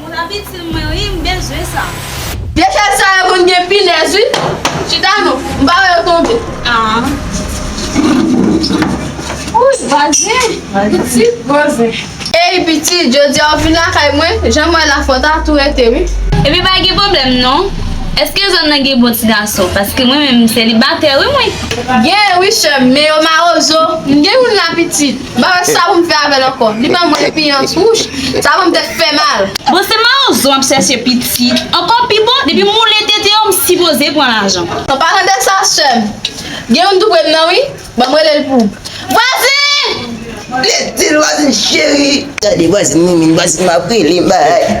Moun ap itil mwen wi m bezwen sa. Dechèj sa yo konn gen pinèz wi. Chita non. M pa wè yo tonbe. Aah. Wouyy vwazen. Pitit vwazen. Eyy pitit jodi a ou vin lakay mwen, janm wè la fò ta tou rete wi. Epi pa gen pwoblèm non. Eske zòn nan gen bon ti gason paske mwen menm m selibatè wi mwen. Genyen wi sèm men yo mawozo. M gen youn la pitit. Ba wè sa pou m fè avèl ankò. Li ban mwen epiyans wouch. Sa ban m tèt fè mal. Bon se marozo map chèche piti ankò pi bon depi m woule tete yo m sipoze pran lajan. Ou pa tande sa sèm. Gen youn tou prem nan wi. Banm relel pou ou. Vwazin! Li dil vwazin cheri. Tande vwazin minmin vwazin map rele bay.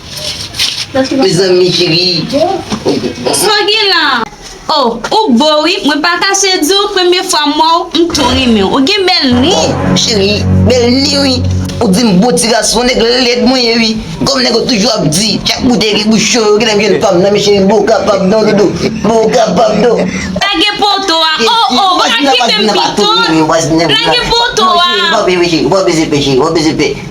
Mezanmi cheri Sa gen la Oh ou bo wi mwen pa kache diw premye fwa m wè w m tou renmen w ou gen bèl ni Oh cheri bèl ni wi Ou di m bon ti gason nèg lèd mwen ye wi Kòm nèg yo toujou ap di chak boutèy gen bouch cho yo genlè m jwenn fanm nan men cheri m poko kapab non doudou m poko kapab non Lage poto a oh oh pa kite m pito Lage poto a.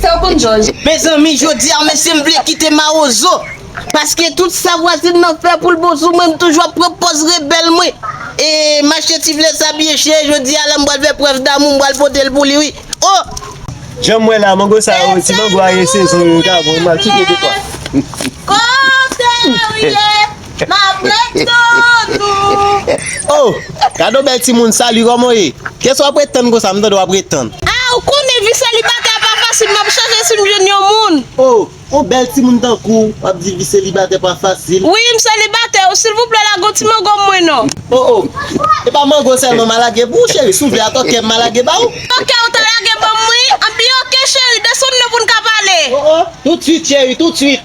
Saw konn jòj. Mezanmi jodi a mesye m vle kite mawozo paske tout sa vwazin nan fè poul bon sou mwen m toujou ap pran pòz rebèl mwen e mache ti flè sa byen chè jodi a la m pral fè prèv damou m pral pote l pou li wi oh. Janm wè la mango sa yo ti mango a gen sezon yo ta bon mal cheke de fwa. Kotew ye. Oh gade yon bèl timoun Salut kòman w ye? Kiyès wap ret tann konsa m tande wap ret tann. Ah ou konnen vi selibatè a pa fasil map chache sim jwenn yon moun. Oh yon bèl timoun tankou w wap di vi selibatè pa fasil. Wi m selibatè oh silvouplè lage yon ti mango mwen non. Oh oh e pa mango sèlman ma lage pou w cheri si w vle a tòkè m ma lage ba w. Tòkè ou ta lage banm wi anpi ok cheri desann non poun ka pale. Oh oh tout swit cheri tout swit.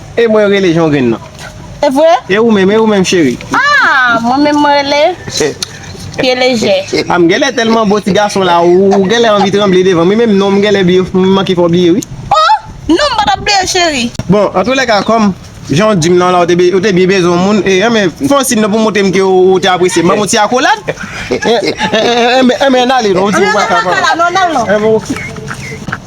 E mwen rele jongrin nan. E vre? E ou menm, e ou menm cheri? Ah, mwen menm mwen rele pye lejè. Ah, m genlè tèlman bo ti gason la ou genlè anvi tranble devanm wi menm nonm m genlè bliye m manke fè w bliye wi. Oh! Non m pa tap bliye w cheri. Bon, an tou lè ka kòm jan w di m lan la ou te ou te byen bezwen yon moun e anben fè yon siy non pou montre m ke ou te apresye m ban m yon ti akolad. Anben anben n ale non ou di ou pa ka pa. Anben ou pa ka la non, n al non.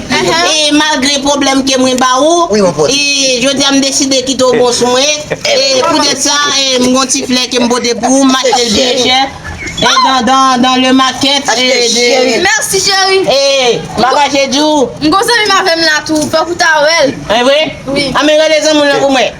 E malgre pwoblèm ke mwen ba ou, e jodi a m deside kite w bon sou mwen, e poutèt sa m gon ti flè ke m pote pou ou, m achte l byen chè, dans le market de Merci cheri! E m pa kache di w. M gon zanmi m avè m la tou, fòk ou ta wè l. E vre? Wi. Anben rele zanmi w lan pou mwen.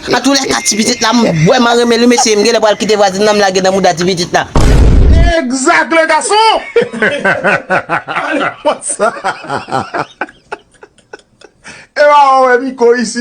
Nan tou lè ka ti pitit la m vreman renmen li mesye m genlè pral kite vwazin nan m lage nan mouda ti pitit la. Exact le gason! Epa wap wè miko isit.